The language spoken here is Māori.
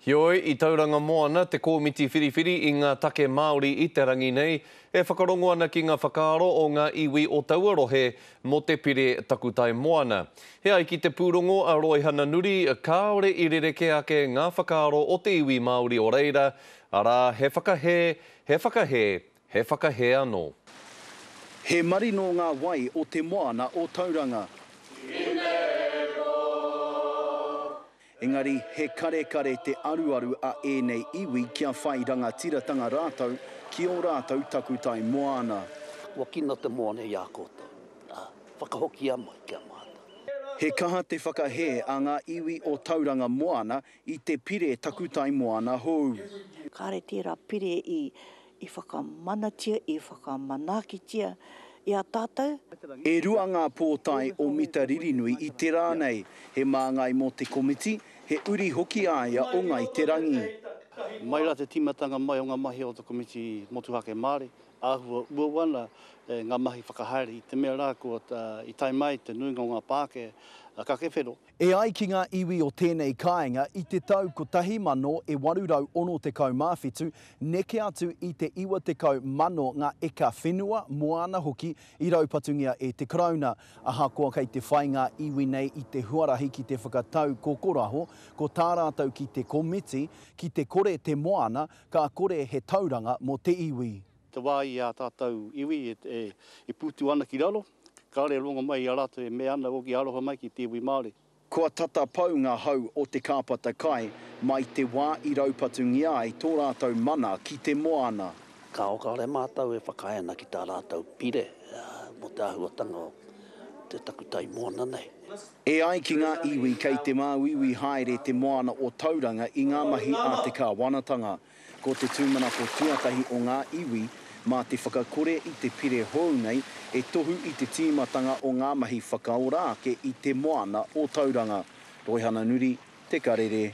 Heoi, i Tauranga Moana, te kōmiti whiriwhiri i ngā take Māori i te rangi nei, e whakarongo ana ki ngā whakaaro o ngā iwi o taua rohe mō te pire takutai moana. E ai ki te pūrongo a Roihana Nuri, kāore i rerekē ake ngā whakaaro o te iwi Māori o reira, arā, he whakahē, he whakahē, He whakahē anō. He marino ngā wai o te moana o Tauranga. I te roa. Engari, he karekare te aruaru a ēnei iwi kia whai rangatiratanga rātou ki ō rātou takutai moana. Kua kino te moana i a koutou, ā, whakahokia mai ki a mātou. He kaha te whakahē a ngā iwi o Tauranga Moana I te pire takutai moana hou. Kāre tērā pire i i whakamanatia, i whakamanakitia i a tātou. E rua ngā pōtae o Mita Ririnui i te rā nei, he māngai mō te komiti, he uri hoki a ia o Ngai Te Rangi. Mai rā te tīmatanga mai o ngā mahi o te komiti motuhake Māori, āhua uaua ana ngā mahi whakahaere i te mea rā kua i tae mai te nuinga o ngā pākē ka kewhero. E ai ki ngā iwi o tēnei kāinga, i te tau 1867, neke atu i te 90,000 ngā eka whenua, moana hoki, i raupatungia e te Karauna. Ahakoa kei te whai ngā iwi nei i te huarahi ki te whakatau kokoraho, ko tā rātou ki te komiti, ki te kore te moana, ka kore he tauranga mō te iwi. Te wā i a tātou iwi e pūtu ana ki raro. Kāore e rongo mai i a rātou e mea ana oki aroha mai ki te iwi Māori. Kua tata pau ngā hau o te kāpata kai mai te wā i raupatungia ai tō rātou mana ki te moana. Kāore mātou e whakaae ana ki tā rātou pire mō te āhuatanga o te takutai moana nei. E ai ki ngā iwi kei te māuiui haere te moana o Tauranga i ngā mahi a te kāwanatanga. Ko te tūmanako tuatahi o ngā iwi, mā te whakakore i te pire hou nei, e tohu i te tīmatanga o ngā mahi whakaora ake i te moana o Tauranga. Roihana Nuri, Te Karere.